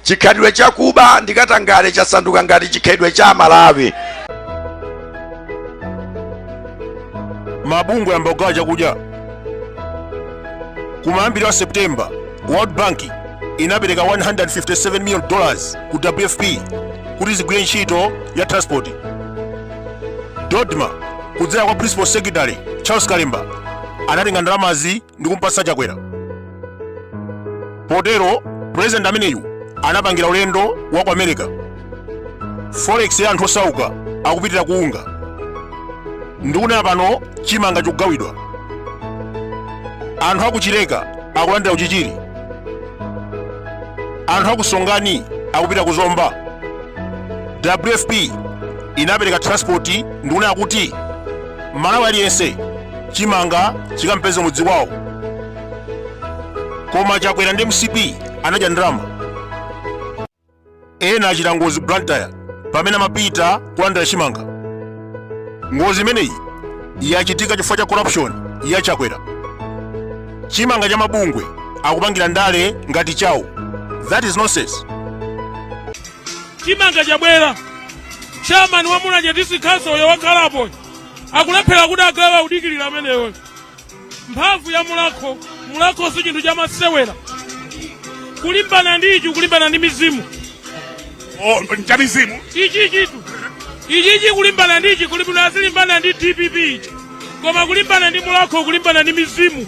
Chikhalidwe cha kuba ndi katangale chasanduka ngati chikhalidwe cha Amalawi. Mabungwe ayamba kugawa chakudya. Kumayambiriro a September, World Bank inapereka 157 million dollars ku WFP kuti zigwire ntchito ya transport. Dodma kudzera kwa Principal Secretary Charles Kalemba anatenga ndalamazi ndi kumpatsa chakwera potero pulezidenti ameneyu anapangira ulendo wa ku america forex ya anthu osauka akupitira ku unga ndikunena pano chimanga chikugawidwa anthu aku chileka akulandira ku chichiri anthu aku songani akupita ku zomba wfp inapereka transport ndikunena kuti mmalawi aliyense chimanga chikampeze mudzi kwawo koma chakwera ndi mcp anadya ndalama ena achita ngozi blantyre pamene amapita kulandira chimanga ngozi imeneyi yachitika chifukwa cha corruption ya chakwera chimanga cha mabungwe akupangira ndale ngati chawo that is nonsense chimanga chabwera chairman wa mulanje district council uyo wakhalapo akulephera kuti agawe akudikirira ameneyo mphamvu ya mulakho mulakho si chinthu chamasewera kulimbana ndi ichi kulimbana ndi mizimu Oh, cha mizimu ichichitu ichichi kulimbana ndi ichi kuli bwino azilimbana ndi dpp ichi koma kulimbana ndi mulakho kulimbana ndi mizimu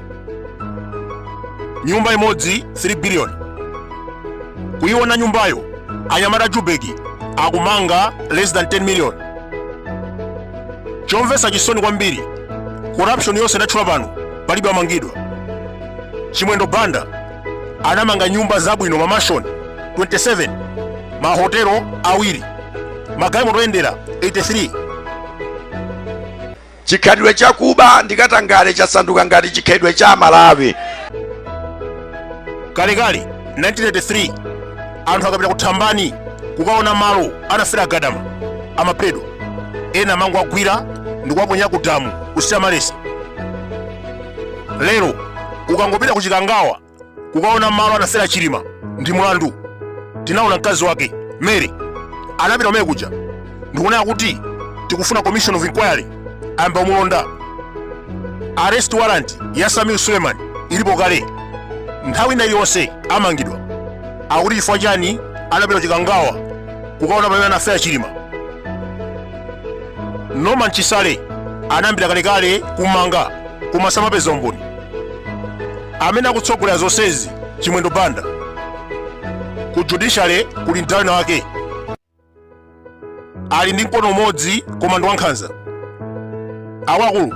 nyumba imodzi 3 billion kuyiona nyumbayo anyamata a jubeki akumanga less than 10 million chomvesa chisoni kwambiri corruption yonse ndatchula pano palibe amangidwa chimwendo banda anamanga nyumba zabwino mamashoni 27 mahotelo awiri magalimoto oyendera 83 Chikhalidwe cha kuba ndi katangale chasanduka ngati chikhalidwe cha Amalawi. Kalekale 1983 anthu akapita ku Thambani kukaona malo anafera Gadama amaphedwa, ena amangowagwira ndi kuwaponya ku damu ku St Mary's. Lero ukangopita ku Chikangawa kukaona malo anafera chilima ndi mlandu tinaona mkazi wake mary anapita kumene kuja ndi kunena kuti tikufuna commission of inquiry ayamba kumulonda arrest warrant ya sameer suleman ilipo kale nthawi ina iliyonse amangidwa akuti chifukwa chani anapita ku chikangawa kukaona pamene anafera chilima norman chisale anayambira kalekale kummanga koma samapeza umboni amene akutsogolera zonsezi chimwendo banda ku judiciary kuli mdala wina wake ali ndi mkono umodzi koma ndi wankhanza akuluakulu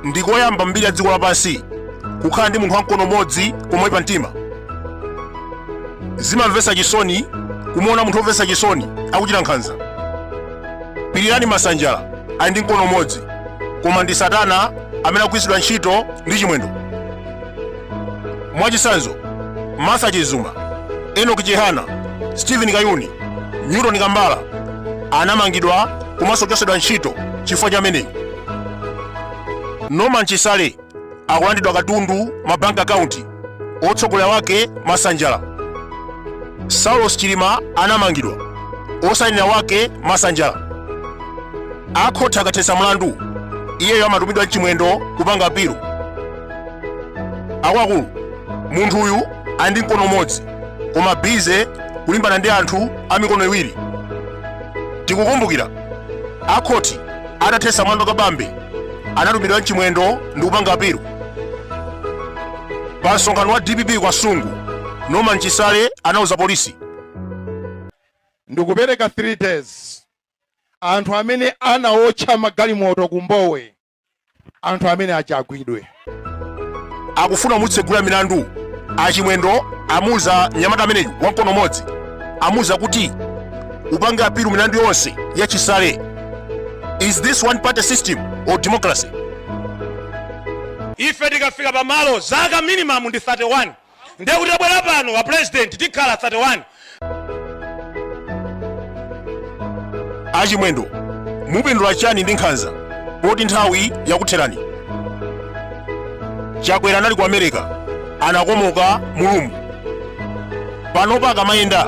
ndi koyamba mbiri ya dziko lapansi kukhala ndi munthu wa mkono umodzi koma oyipa mtima zimamvetsa chisoni kumuona munthu womvetsa chisoni akuchita nkhanza Pilirani Masanjala ali ndi mkono umodzi, koma ndi Satana amene akugwiritsidwa ntchito ndi Chimwendo. Mwachitsanzo, Martha Chizuma, Enoki Chihana, Stephen Kayuni, Newton Kambala anamangidwa komanso kuchotsedwa ntchito chifukwa cha ameneyi. Norman Chisale akulandidwa katundu ma bank account otsogolera wake masanjala saulos chilima anamangidwa osainira wake masanjala akhoti akathetsa mlandu iyeyo amatumidwa ndi chimwendo kupanga apilu akuluakulu munthu uyu ali ndi mkono umodzi koma busy kulimbana ndi anthu a mikono iwiri tikukumbukira akhoti atathetsa mlandu kabambe anatumidwa ndi chimwendo ndi kupanga apilu pa msonkhano wa dpp ku kasungu norman chisale anauza polisi ndikupereka 3 days anthu amene anaotcha magalimoto ku mbowe anthu amenewa agwidwe akufuna kumutsegula milandu achimwendo amuuza nyamata ameneyu wamkono umodzi amuuza kuti upange apilu milandu yonse ya chisale is this one party system or democracy ife tikafika pamalo zaka minimum ndi 31 ndiye kuti tabwera pano a president tikhala 31 achimwendo mupindula chani ndi nkhanza poti nthawi yakutherani chakwera anali ku america anakomoka mu ulumu panopa akamayenda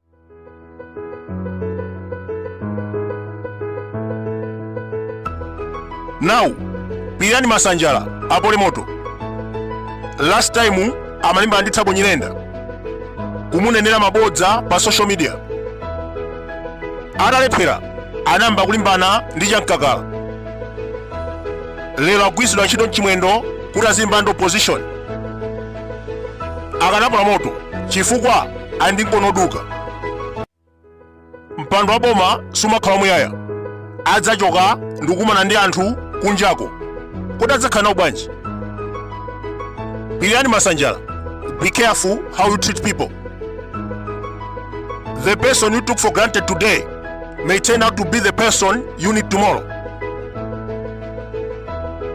now pilirani masanjala apole moto last time amalimbana ndi thabo nyirenda kumunenera mabodza pa social media atalephera anayamba kulimbana ndi chamkakala lero agwiritsidwa ntchito ndi chimwendo kuti azilimbana ndi opposition akanapola moto chifukwa ali ndi mkono oduka mpando wa boma sumakhala wamuyaya adzachoka ndikukumana ndi anthu kunjako kodi adzakhala nawo bwanji pilirani masanjala be careful how you treat people the person you took for granted today may turn out to be the person you need tomorrow